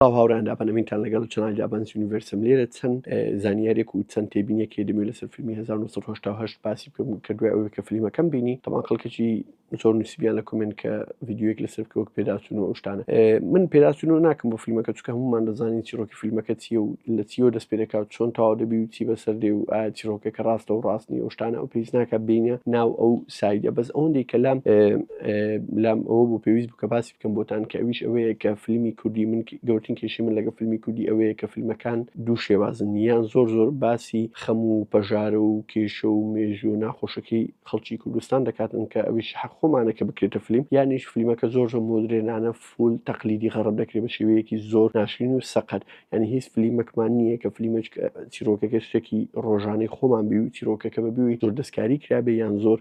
سڵاو هاوڕێیان دابەنەمینتان لەگەڵ چنای دابنس یونیڤرسم لێرە چەند زانیارێک و چەند تێبینێکی دەمێ لەسەر فیلمی 1970 باسی بکەم کە دوای ئەوەی کە فلیمەکەم بینی تەمان خەڵکەکی زۆر نووسیبیان لە کومنت کە ڤیددیوەک لەسەر بکە وەک پێداچون و ئەوشتانە من پێداچون و ناکەم بۆ فیلمەکە چکە هەمومان دەزانین چیرۆکی فیلمەکە چیە و لە چیەوە دەست پێ دەکات چۆن تاوا دەبی و چی بەسەر دێ و ئایا چیرۆکەکە ڕاستە و ڕاستنی ئەوشتانە ئەو پێویست ناکە بینە ناو ئەو سایدە بەس ئەوەندی کە لام لام ئەوە بۆ پێویست بکە باسی کەم بۆتان کە ئەویش ئەوەیە کە فلمی کوردی من گەورتین کێشی من لەگە فلمی کوردی ئەوەیە کە فلمەکان دوو شێوازن یان زۆر زۆر باسی خەم و پەژارە و کێشە و مێژوو ناخۆشەکەی خەڵکی کوردستان دەکاتن کە ئەویش حەق خۆمانە کە بکرێتە فلیم یانیش فلیمەکە زۆر زۆر مۆدرێنانە فول تەقلیدی غەڕب دەکرێت بە شێوەیەکی زۆر ناشرین و سەقەت یانی هیچ فلیمەکمان نییە کە فلیمەج چیرۆکەکە شتێکی ڕۆژانەی خۆمان بی و چیرۆکەکە بە بووی زۆر دەستکاری کرابێ یان زۆر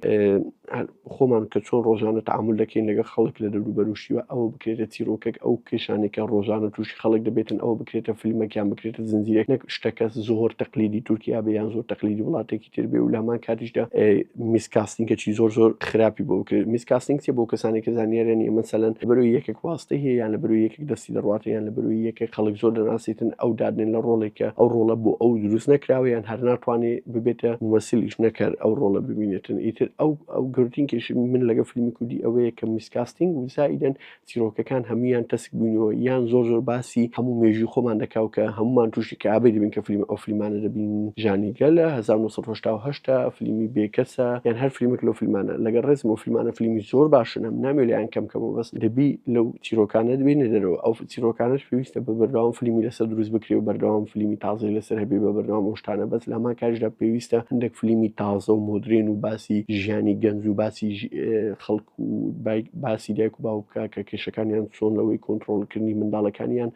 خۆمان کە چۆن ڕۆژانە تعامل دەکەین لەگە خەڵک لە دەروبەروشیوە ئەوە بکرێتە چیرۆکەک ئەو کێشانێکە ڕۆژانە تووشی خەڵک دەبێتن ئەوە بکرێتە فلیمەکیان بکرێتە زنجیرەک نەک شتەکە زۆر تەقلیدی تورکیا بە یان زۆر تەقلیدی وڵاتێکی کردبێ و لە هەمان کاتیشدا میسکاستنگەکی زۆر زۆر خراپی بۆ کرد میسکاستنگ چێ بۆ کەسانی کە زانیارە نیە مەسەلەن بەرو یەکێک واستی هەیە یان لە بەرو یەکێک دەستی دەڕاتە یان لە بەرو یەکە خەڵک زۆر دەناسیتن ئەو دادنێن لە ڕۆڵێکە ئەو ڕۆڵە بۆ ئەو دروست نەکراوە یان هەر ناتوانێ ببێتە وەسیلیش نەکەر ئەو ڕۆڵە ببینێتن ئیتر ئەو ئەو گردینکێش من لەگە فیلمی کوردی ئەوەیە کە میسکاستنگ وزایدن چیرۆکەکان هەموویان تەسک بووینەوە یان زۆر زۆر باسی هەموو مێژوی خۆمان دەکاو کە هەمومان تووشی کابێ دەبین کە فیلم ئەو فیلمانە دەبین ژانیگە لە 1970 فلیمی بێکەسە یان هەر فیلمێک لەو فیلمانە لەگە ڕێزم و فیلمانە فیلمی زۆر باشن هەم ناوێ لەیان کەم کەمەوە بەس دەبی لەو چیرۆکانە دەبێنە دەرەوە ئەو چیرۆکانش پێویستە بە بەردەوام فیلمی لەسەر دروست بکرێ و بەردەوام فیلمی تازەی لەسەر هەبێ بە بەردەوام ئەوشتانە بەس لەما کاژدا پێویستە هەندێک فیلمی تازە و مدرێن و باسی ژیانی گەنج و باسی خەڵک باسی دایک و باوک بکە کە کێشەکانیان چۆن لەوەی کۆنتترۆلکردنی منداڵەکانیان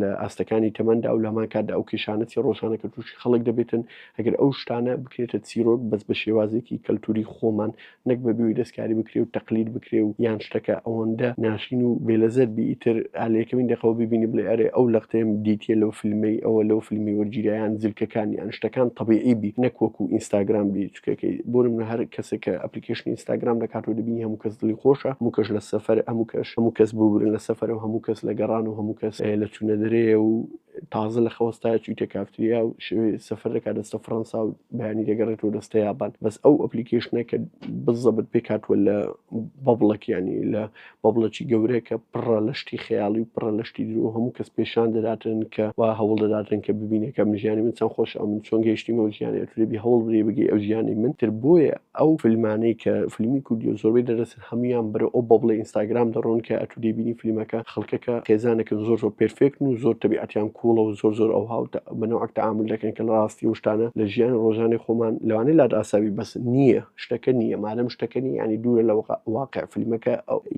لە ئاستەکانی تەمەندا و لەمان کاتدا ئەو کێشانەتی ڕۆژانە کە تووشی خەڵک دەبێتن ئەگەر ئەو شتانە بکرێتە چیرۆک بەس بە شێوازێکی کەلتوری خۆمان نەک بە بوی دەستکاری بکرێ و تەقلید بکرێ و یان شتەکە ئەوەندە ناشین و بێلەزەر بیتر ئالەکەمین دەقەوە ببینی بڵێ ئەرێ ئەو لەقتەیەم دیتە لەو فیلمی ئەوە لەو فیلمی وەرگیرایان زلکەکانیان شتەکان طبیعی بی نەک وەکو ئینستاگرام بیت کەکەی بۆرم نە هەر کەسێک کە ئەپلیکەشنی ئینستاگرام دەکات و دەبینی هەموو کەس دڵی خۆشە هەموو کەش لە سەفەر هەموو کەش هەموو کەس ببورن لە سەفەر و هەموو کەس لە گەڕان و هەموو کەس لە چوونە دەرەیە و تازە لە خەوەستا چویتە کافتریا و شوێ سەفەر دەکات دەستە فڕەنسا و بەیانی دەگەڕێتەوە دەستە یابان بەس ئەو ئەپلیکەشنە کە بزەبت پێکاتوە لە بەبڵەکیانی لە بەبڵێکی گەورەکە پڕە لە شتی خەیاڵی و پڕە لە شتی درۆ هەموو کەس پێشان دەداتن کە وا هەوڵ دەداتن کە ببینێکە من ژیانی من چەند خۆش ئەو من چۆن گەیشتیم ئەو ژیانی ئەتولێبی هەوڵ بری بگەی ئەو ژیانی من تر بۆیە ئەو فیلمانەی کە فیلمی کوردی و زۆربەی دەرەسن هەمویان بەرە ئەو بەبڵە ئینستاگرام دەڕۆن کە ئەتو دەیبینی فیلمەکە خەڵکەکە خێزانەکەن زۆر زۆر پێرفێکن و زۆر تەبیعەتیان کوڵە و زۆر زۆر ئەو هاوتە بەنەوەک تەعامل دەکەن کە لە ڕاستی وشتانە لە ژیانی ڕۆژانی خۆمان لەوانەیە لات ئاساوی بەس نییە شتەکە نییە مادەم شتەکەنی ینی دوورە لە واقع فیلمەکە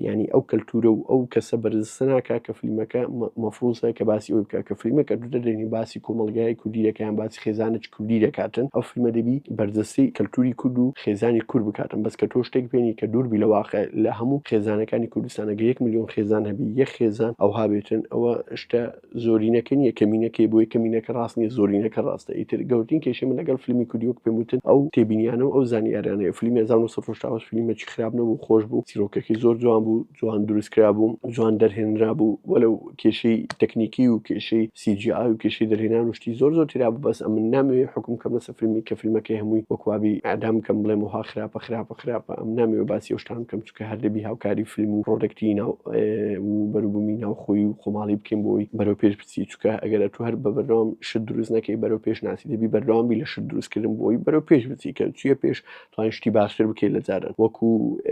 ینی ئەو کەلتورە و ئەو کەسە بەرزسەناکە کە فیلمەکە مەفروسە کە باسی ئەوی بکە کە فیلمەکە دوو دەدەنی باسی کۆمەلگای کوردی دەکەیان باسی خێزانە چ کوردی دەکاتن ئەو فیلمە دەبی بەرزەسی کەلتوری کورد و خێزانی کور بکاتن بەس کە تۆ شتێک بێنی کە دووربی لە واقع لە هەموو خێزانەکانی کوردستانەگە یەک میلیۆن خێزان هەبی یە خێزان ئەوها بێتن ئەوە شتە زۆرینەکە نیە کەمینەکەی بۆی کەمینەکە ڕاست نیە زۆرینەکە ڕاستە ئیتر گەورتین کێشە من لەگەڵ فیلمی کوردیوەک پێم وتن ئەو تێبینیانە و ئەو زانیاریانەیە فیلمی 1970 فیلمێکی خراپ نەبوو خۆش بوو چیرۆکەکەی زۆر جوان بوو جوان دروست کرا بوو جوان دەرهێنرا بوو وەلو کێشەی تەکنیکی و کێشەی سیجی ئاو و کێشەی دەرهێنان و شتی زۆر زۆر تیرا بوو بەس ئەمن نامەوێ حکم کەم لەسەر فیلمی کە فیلمەکەی هەمووی وەکوابی ئادام کەم بڵێم وها خراپە خراپە خراپە ئەم نامەوێ باسی ئەو شتان بکەم کە هەر دەبی هاوکاری فیلم و پرۆدەکتی ناو و بەروبوومی ناوخۆی و خۆماڵی بکەین بۆی بەرەو پێش بچی چکە ئەگەر ئەتو هەر بە بەردەوام شت دروست نەکەی بەرەو پێش ناسی دەبی بەردەوام بی لە شت دروستکردن بۆی بەرەو پێش بچی کە چیە پێش توانین شتی باشتر بکەی لە جاران وەکو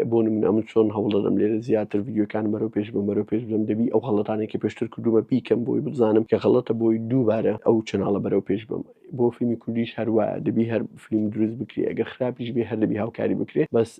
بۆ نمونە من چۆن هەوڵ دەدەم لێرە زیاتر ڤیدیۆکانم بەرەو پێش بم بەرەو پێش بم دەبی ئەو غەڵەتانەی کە پێشتر کردومە بیکەم بۆی بزانم کە غەڵەتە بۆی دووبارە ئەو چەناڵە بەرەو پێش بم بۆ فیلمی کوردیش هەر وایە دەبی هەر فیلم دروست بکری ئەگەر خراپیش بێ هەر دەبی هاوکاری بکرێ بەس